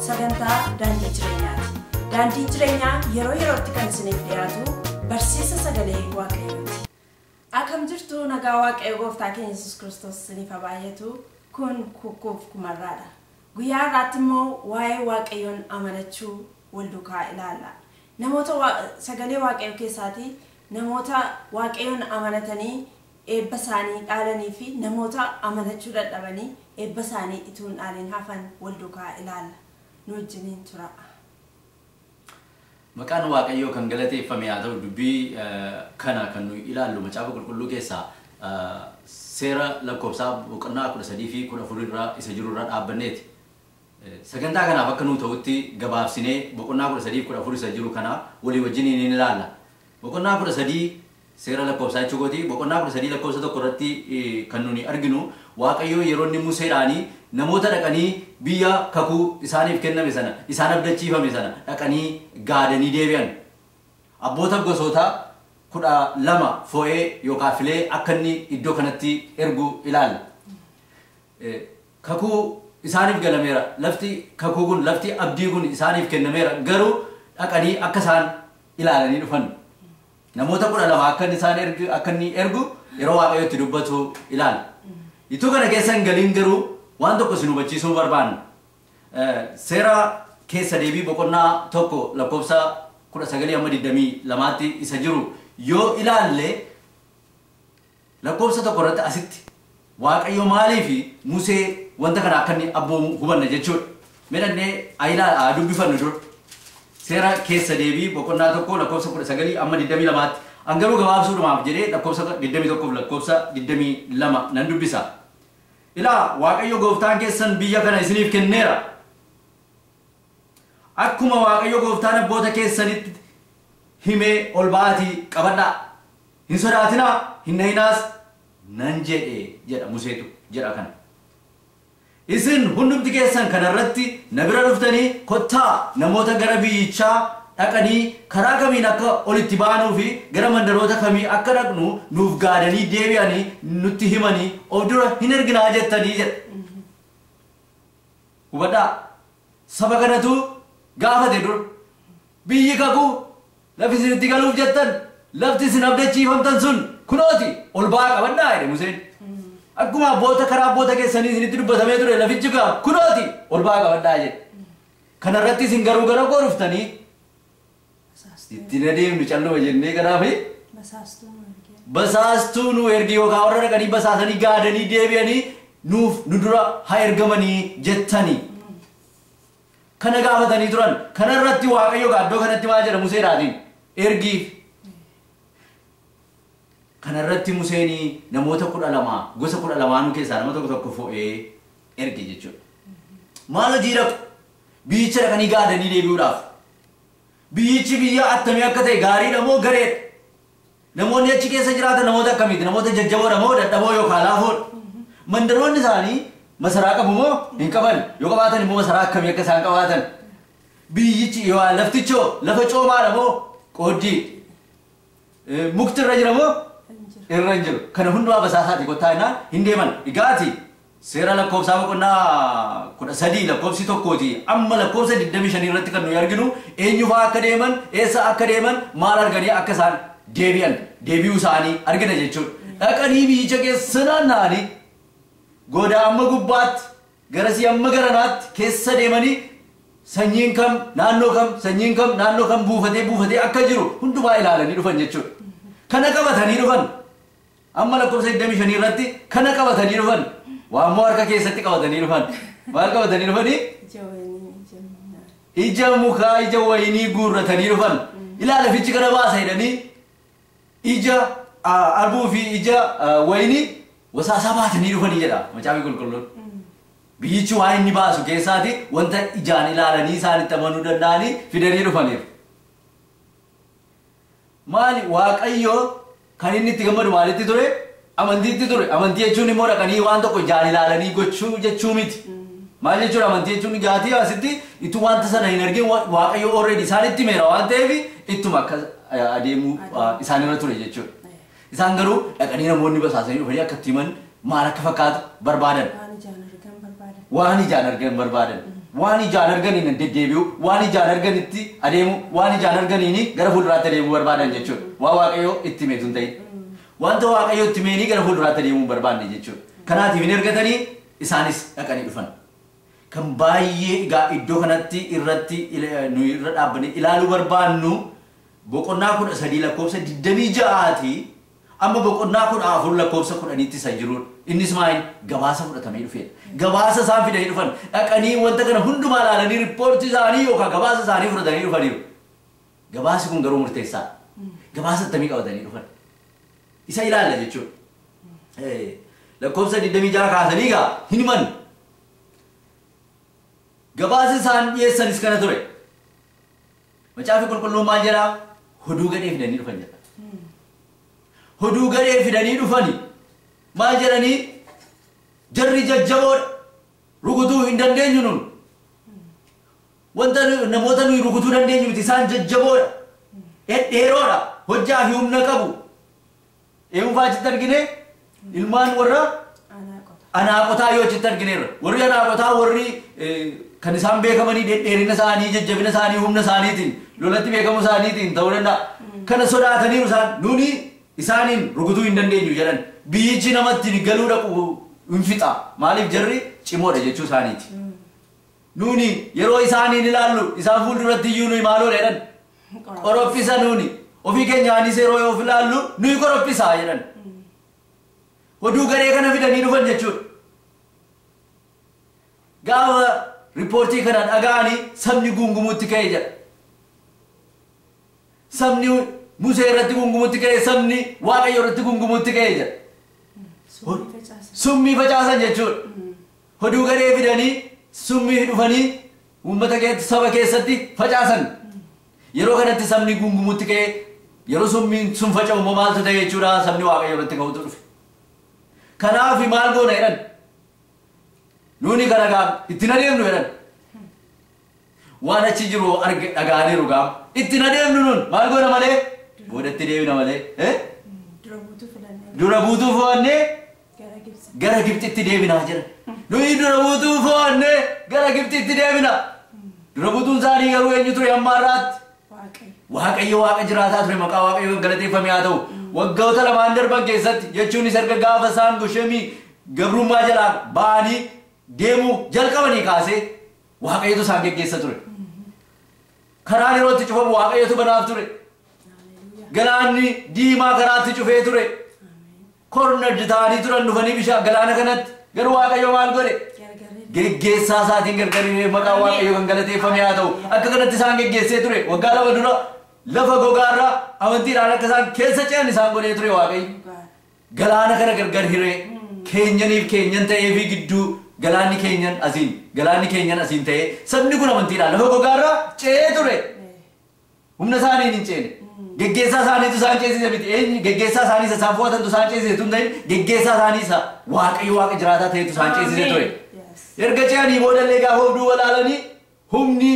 sagantaa daandii jireenyaati. Daandiin jireenyaa yeroo yerootti kan isiniif dhiyaatu barsiisa sagalee waaqayyooti. Akkam jirtu nagaa waaqayyo gooftaa keenya Yesuus Kiristoos isiniif haa baay'atu. Kun kukkuuf kumarraadha. Guyyaa har'aatti immoo waa'ee waaqayyoon amanachuu wal dukaa ilaalla. Namoota sagalee waaqayyo keessaatii namoota waaqayyoon amanatanii eebba isaanii dhaalanii fi namoota amanachuu dadhabanii eebba isaanii ituu hin dhaaliin hafan wal dukaa ilaalla. Nu wajjiniin turaa. Maqaan Waaqayyoo kan galateeffame haa ta'u dubbii kana kan nuyi ilaallu macaafa qulqulluu keessaa seera lakkoofsaa boqonnaa 13 fi 14 irra isa jiru irra dhaabbanneeti. Sagantaa kanaaf akka nuu ta'utti gabaabsinee boqonnaa 13 fi 14 isa jiru kana walii wajjiniin in ilaalla. Boqonnaa 13 Seera Lakkoofsaa jechuu kooti, boqonnaa 13 lakkoofsa 1 irratti kan nuni arginu Waaqayyoo yeroo inni Museedhaan namoota dhaqanii biyya kakuu isaaniif kenname sana, isaan abdachiifame sana dhaqanii gaadanii deebi'an abboota gosoota 12 fo'ee yookaan filee akka inni iddoo kanatti ergu ilaalla. Kakuu isaaniif galameera, lafti kakuu kun, lafti abdii kun isaaniif kennameera garuu dhaqanii akka isaan ilaalanii dhufan. Namoota kudha lama akka inni isaan ergu akka inni ergu yeroo waaqayyo itti dubbatu ilaala. Ituu kana keessa hin galiin garuu waan tokko isin hubachiisuu barbaanna. Eh, Seera keessa deebii boqonnaa tokko lakkoofsa kudha sagalii amma digdamii lamaatti isa jiru yoo ilaalle Lakkoofsa 1 irratti asitti Waaqayyo maaliif Musee wanta kana akka inni abboomu hubanna jechuudha. Mee dhaqnee haa ilaal haa dubbifannu dura. Seera keessa deebii boqonnaa 1 lakkoofsa 19 amma 22tti. An garuu gabaabsuudhumaaf jedhee lakkoofsa 21 fi lakkoofsa 22 nan dubbisa. Ilaa Waaqayyo gooftaan keessan biyya kana isiniif kenneera. Akkuma Waaqayyo gooftaan abboota keessanitti himee ol ba'aatii qabadhaa. Hin sodaatinaa, hin nahinaas nan jedhe jedha Museetu jedha kana. Isin hundumti keessan kana irratti na bira dhuftanii, Kottaa namoota gara biyyichaa dhaqanii karaa kamiin akka ol itti baanuu fi gara mandaroota kamii akka dhaqnu nuuf gaadanii deebi'anii nutti himanii of dura hin erginaa jettanii jedha. Hubadhaa, saba kanatu gaafate dura. Biyyi kakuu, lafi isin itti galuuf jettan, lafti isin abdachiifamtan sun kunoo ti, ol ba'aa qabadhaa jedhe Museen. Akkuma abboota karaa abboota keessanii isinitti dubbatamee ture lafichi egaa kunoo ti, ol ba'aa qabadhaa jedhe. Kana irratti isin garuu gara koo dhuftanii, Itti hin adeemnu, calluma jennee kanaa fi basaastuu nuu ergi yookaan warra dhaqanii basaasanii gaadanii deebi'anii nuuf nu dura haa ergamanii jettani. kana gaafatanii turan. Kana irratti Waaqayyo egaa iddoo kanatti maal jedha Museedhaatiin? Ergiif. Kana irratti Museen namoota kudha lama gosa kudha lamaanuu keessaa nama tokko tokko fo'ee erge jechuudha. Maal hojii dhaqu? Biyyicha dhaqanii gaadanii deebi'uudhaaf. Biyyichi biyya attamii akka ta'e gaariidha moo gareedha? Namoonni achi keessa jiraatan namoota akkamiiti? Namoota jajjaboodha moo dadhaboo yookaan laafoodha? Mandaroonni isaanii masaraa qabu moo hin qaban? Yoo qabaatan immoo masaraa akkamii akka isaan qabaatan? Biyyichi yookaan laftichoo lafa coomaadha moo qooddii? Mukti irra jira moo irra hin jiru? Kana hundumaa basaasaati kottaa innaan hin deeman. Egaati Seera Lakkoofsaa boqonnaa 13 lakkoofsi 1 ti amma lakkoofsa 25 irratti kan nuyi arginu eenyu fa'aa akka deeman, eessa akka deeman, maal arganii akka isaan deebi'an, deebi'uu isaanii argina jechuudha. Dhaqanii biyyicha keessa naanna'anii goda amma gubbaatti, garasii amma garanaatti keessa deemanii sanyiin kam naannoo kam, sanyiin kam naannoo kam buufatee buufatee akka jiru hundumaa ilaalanii dhufan jechuudha. Kana qabatanii dhufan. Amma lakkofsa 25 irratti kana qabatanii dhufan. Waa immoo harka keessatti qabatanii dhufan. Maal qabatanii dhufanii? Ija wayinii ija miinaa. Ija mukaa ija wayinii guurratanii dhufan. Ilaala fichi kana baasa jedhanii ija ah, arbuu fi ija ah, wayinii wasaasaa baatanii dhufanii jedha macaafni qulqulluun. Biyyichi waan inni baasu keessaati wanta ijaan ilaalanii isaanitti amanuu danda'anii fidanii dhufaniiru. Maali? Waaqayyo kan inni itti gammadu maalitti ture? Amantiitti ture. Amantii jechuun immoo dhaqanii waan tokko ijaan ilaalanii gochuu jechuu miti. Maal jechuudha amantii jechuun gaatii asitti ittuu wanta sana hin argin wa- Waaqayyo already isaanitti himeera waan ta'eef ittuma akka eh, adeemuu ah, isaanirra ture jechuudha. Isaan garuu dhaqanii namoonni basaasanii dhufanii akka itti himan maal akka fakkaatu barbaadan. Waan ijaan argan barbaadan. Waan ijaan argan barbaadan. Waan ijaan arganiin deddeebi'u, waan ijaan arganitti adeemu, waan ijaan arganiin gara fuulduraatti adeemuu barbaadan jechuudha. Waan Waaqayyoo itti himeetu hin ta'in. Wanta Waaqayyoo itti himeenii gara fuulduraatti adeemuu hin barbaanne jechuudha. Kanaatiif hin ergatanii isaanis dhaqanii dhufan. Kan baay'ee egaa iddoo kanatti irratti nuyi irra dhaabbanii ilaaluu barbaannu boqonnaa 13 lakkoofsa 26 ti amma boqonnaa 14 lakkoofsa 10 tti isa jiruudha. Innis maa inni gabaasa fudhatamee dhufeedha. Gabaasa isaan fidanii dhufan dhaqanii wanta kana hundumaa ilaalanii rippoortii isaanii yookaan gabaasa isaanii fudhatanii dhufaniiru. Gabaasi kun garuu murteessaadha. Gabaasa attamii qabatanii dhufan. Isa ilaalla jechuudha. Eh, Lakkoofsa 26 kaasanii egaa hin himan. Gabaasi isaan dhiyeessanis kana ture. Macaafi qulqulluun maal jedha? Hoduu gadhee fidanii dhufan jedha. Hoduu gadhee fidanii dhufani maal jedhanii? Jarri jajjaboodha. Rukutuu hin dandeenyu nun. Wanta nu- namoota nuyi rukutuu dandeenyu miti isaan jajjaboodha. Dhedheeroodha. Hojjaa fi humna qabu. Eenyu fa'aa achitti argine? Ilmaan warra Anaaqotaa yoo achitti argineerra. Warri Anaaqotaa warri kan isaan beekamanii dhedheerina isaanii, jajjabina isaanii, humna isaaniitiin, lolatti beekamuu isaaniitiin ta'uu danda'a. Kana sodaataniiru isaan nuuni isaaniin rukutuu hin dandeenyu jedhan. Biyyichi namatti galuu dhaqu hin fixa. Maaliif jarri cimoodha jechuu isaaniiti. Nuuni yeroo isaaniin ilaallu isaan fuulduratti iyyuu nuyi maaloodha jedhan. Korophisa nuuni ofii keenyaanis yeroo yoo of ilaallu nuyi korophisa jedhan. Oduu garee kana fidanii dhufan jechuudha. Gaafa riippoortii kana dhaga'anii sabni guungumuutti ka'e jedha. Sabni Musee irratti guungumuutti ka'e, sabni Waaqayyo irratti guungumuutti ka'e jedha. Summii facaasan jechuudha. Hoduu gadhee fidanii summii dhufanii uummata keetti, saba keessatti facaasan. Yeroo kanatti sabni guungumuutti ka'ee yeroo summiin sun faca'u immoo maaltu ta'e jechuudha sabni Waaqayyoo irratti ka'utu dhufe. Kanaaf maal goona jedhan. Nuuni gara gaa ittiin adeemnu jedhan. Waan achi jiru arge dhaga'aniiru gaam. Itti na deemnu nun maal goona malee? Boodatti deebina malee. Eh? Dura buutuu filannee Dura buutuu fo'annee gara Gibsi. gara Gibxitti deebinaa jira. Nuyi dura buutuu fo'annee gara Gibxitti deebina. Dura buutuun isaanii garuu eenyu ture hamma har'aatti? Waaqayyo. Waaqayyo waaqa jiraataa ture maqaa waaqayyoo galateeffamee haa ta'u. Waggoota lamaan darban keessatti jechuunis erga gaafa isaan goshemii gabrummaa jalaan ba'anii deemuu jalqabanii kaasee Waaqayyotu isaan geggeessa ture. Karaan yeroo itti cufamu Waaqayyotu banaaf ture. Galaanni diimaa karaatti cufee ture. Kornardi ta'anii turan dhufanii bishaan galaana kanatti. Garuu Waaqayyo maal godhe? Geggeessaa isaatiin gargariiree maqaa Waaqayyo kan galateeffame haa ta'u. Akka kanatti isaan geggeessee ture. Waggaa lama dura lafa gogaarraa amantiidhaan akka isaan keessa ce'an isaan godhee ture Waaqayyo. Galaana kana gargar hiree, keenyaniif keenyan ta'ee fi gidduu galaanni keenyan asiin, galaanni keenyan asiin ta'ee sabni kun amantiidhaan lafa gogaa irra ce'ee ture. Humna isaaniin hin ceene. Geggeessaa isaaniitu isaan ceesise miti. Eenyu geggeessaa isaanii isa isaan fo'atantu isaan ceesise tun ta'in geggeessaa isaanii isa Waaqayyo Waaqa jiraataa ta'etu isaan ceesise ture. Erga ce'anii booda illee gaafa of duuba ilaalanii Humni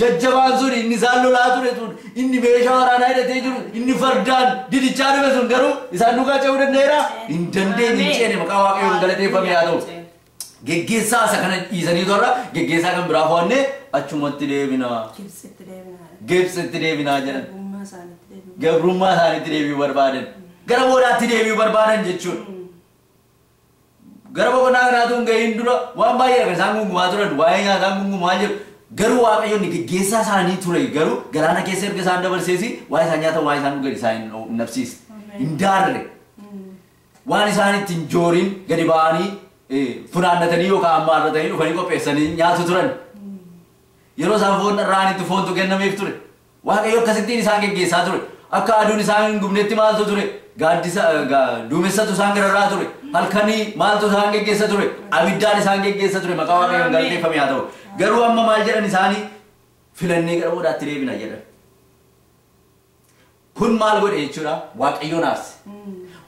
jajjabaan sun, inni isaan lolaa ture sun, inni meeshaa waraanaa hidhatee jiru, inni fardaan didichaa dhufe sun garuu isaan duukaa ce'uu danda'eeraa? Hin dandeenye, hin ceene. Maqaa Waaqayyoon galateeffamee haa ta'u. Geggeessaa isa kana dhiisaniitu har'a geggeessaa kan biraa fo'annee achumatti deebina. Gibsitti deebina. Gibsitti deebina jedhan. Gabrummaa isaaniitti deebina. Gabrummaa isaaniitti deebi'uu barbaadan. Gara boodaatti deebi'uu barbaadan jechuudha. Gara boqonnaa kanaa utuu hin ga'iin dura waan baay'eedha kan isaan gungumaa turan. Waa'ee nyaataa gungumaa jiru. Garuu Waaqayyo inni geggeessaa isaanii ture garuu galaana keessa erga isaan dabarsees waa'ee isaan nyaatan waa'ee isaan dhugan isaan hin hin dhabsiise. Hin daarre. Waan isaan itti hin jooriin gadi ba'anii eh, funaannatanii yookaan ammaa irra ta'anii dhufanii qopheessanii nyaatu turan. Yeroo isaan foon dharra'anitti foontu kennameef ture. Waaqayyo akkasittiin isaan geggeessaa ture. Akka aduun isaan hin gubnetti maaltu ture? Gaaddisa, ga, duumessatu isaan gararraa ture. Halkanii maaltu isaan geggeessa ture? Abiddaan isaan geggeessa ture. Maqaa Waaqayyoon Ameen. galateeffame haa ta'u. Garuu amma maal jedhan isaani? Filannee gara boodaatti deebina jedhan. Kun maal godhe jechuudha? Waaqayyoon aarse.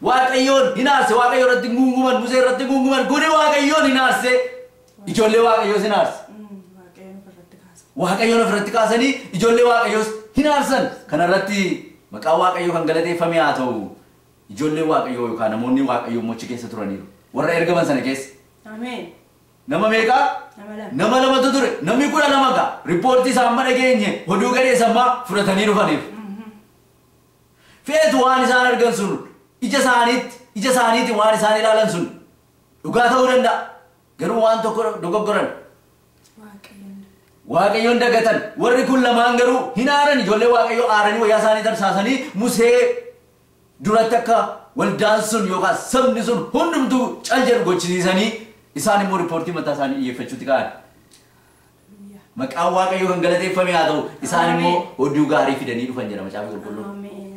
Waaqayyoon hin aarse. Waaqayyo irratti hin guunguman. Musee irratti hin guunguman. Kuni Waaqayyoon hin aarse. Ijoollee Waaqayyoos in aarsa. Waaqayyoon of irratti kaasanii ijoollee Waaqayyoos hin aarsan. Kana irratti maqaan Waaqayyoo kan galateeffame haa ta'u. Ijoollee Waaqayyoo yookaan namoonni Waaqayyoo immoo achi keessa turaniiru. Warra ergaman sana keessa. Nama meeqaa? Nama lamatu ture. Namni kudha lama gaa. Rippoortii isaa amma dhageenye oduu gadheessa ammaa fudhatanii dhufaniif. Feetu waan isaan argan sun ija isaaniitti ija isaaniitiin waan isaan ilaalan sun Dhugaa ta'uu danda'a. Garuu waan tokko dogoggoran. Waaqayyoon dagatan. Warri kun lamaan garuu hin aaran. Ijoollee Waaqayyoo aaranii wayyaa isaanii tarsaasanii Musee duratti akka waldaan sun yookaan sabni sun hundumtuu cal jedhu gochisiisanii isaan immoo riippoortii mataa isaanii dhiyyeeffachuutti ka'an. Maqaan Waaqayyoo kan galateeffame haa ta'u. Isaan immoo oduu gaarii fidanii dhufan jedha Macaafa Qulqulluun.